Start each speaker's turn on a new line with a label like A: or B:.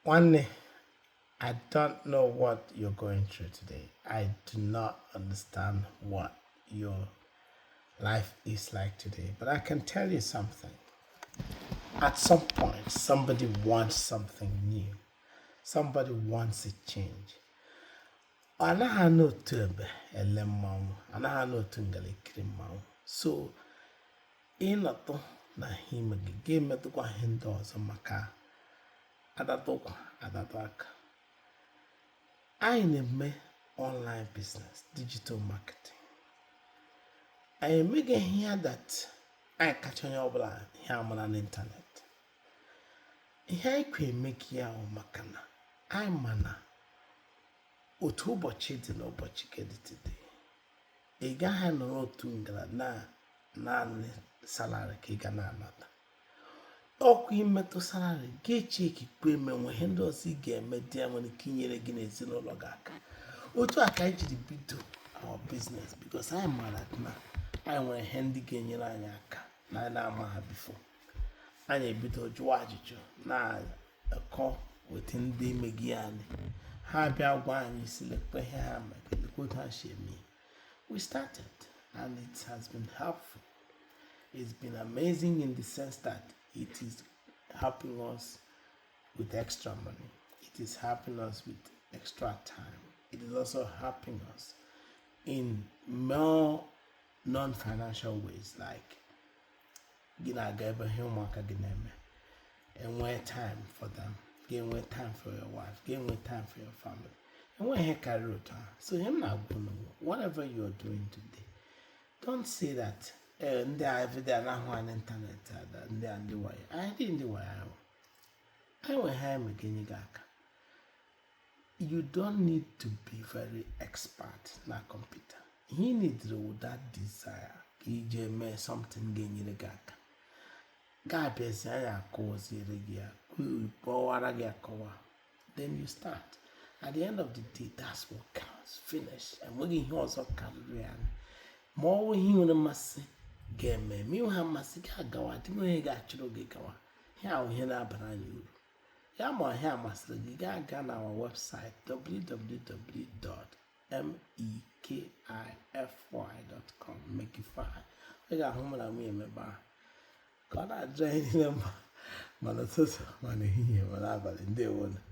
A: Nwanne, I don't know what you're going through today. I do not understand what your life is like today. But I can tell you something. At some point, somebody wants something new. Somebody wants a change. ọ anaghị anọ otu ebe ele mmanwụ anaghị anọ otu ngala ekiri mmanwụ so ị nọtụ na ihe ị mega gị emetụkwa ihe ndị ọzọ maka adatụ ụkwụ adatụ aka anyị na-eme online business digital marketing anyị emeghị ihe a that anyị kacha onye ọbụla ihe amara n'ịntanetị ihe anyị kwọ emega ya wụ maka na anyị ma na otu ụbọchị dị na ụbọchị ke dị today ị gaghị anọrọ otu ngala na naanị salary ka ị ga na-anata ọ kwa ị metụ salary gị chekikwe ma e nwe ihe ndị ọzọ ị ga-eme dị ya nwere ike inyere gị na ezinụlọ gị aka otu a ka anyị jiri bido our business because anyị maara na anyị nwere ihe ndị ga-enyere anyị aka na anyị na-ama ha before anyị ebido jụwa ajụjụ na kọ with ndị emega ya ha bịa gwa anyị sị lekwa ihe ha mega lekwa otu ha si eme we started and it has been helpful it's been amazing in the sense that it is helping us with extra money it is helping us with extra time it is also helping us in more non-financial ways like gị na-aga ebe ihe ụmụaka gị na-eme enwee time for them gị enwee time for your wife gị enwee time for your family enweghị ihe karịrị otu ahụ so ihe m na-agwa unu whatever you are doing today don't say that eh, ndị a everyday a na-ahụ anyị n'ịntanetị ada ndị a ndị wayo anyị dị ndị wayo ahụ anyị nwe ihe eme ga-enye gị aka you don't need to be very expert na kọmputa ihe ị needịrị wụ that desire ka iji eme something ga-enyere gị aka gị abịazie anyị akụziere gị ya kọwara gị akọwa then you start at the end of the day that's what counts finish enweghị ihe ọzọ karịrị ya ma ọ bụ ihe i nwere mmasị gị emee ma ị nweha mmasị gị agawa dị onye ga-achụrụ gị gawa ihe a wụ ihe na-abara anyị uru ya ma ihe a masịrị gị gị agaa na our website www.mekify.com mekify ị ga-ahụ mụ na nwunye m ebe ahụ ka ọ na-adịrị anyị niile mma ma n'ụtụtụ ma n'ehihie ma n'abalị ndewonụ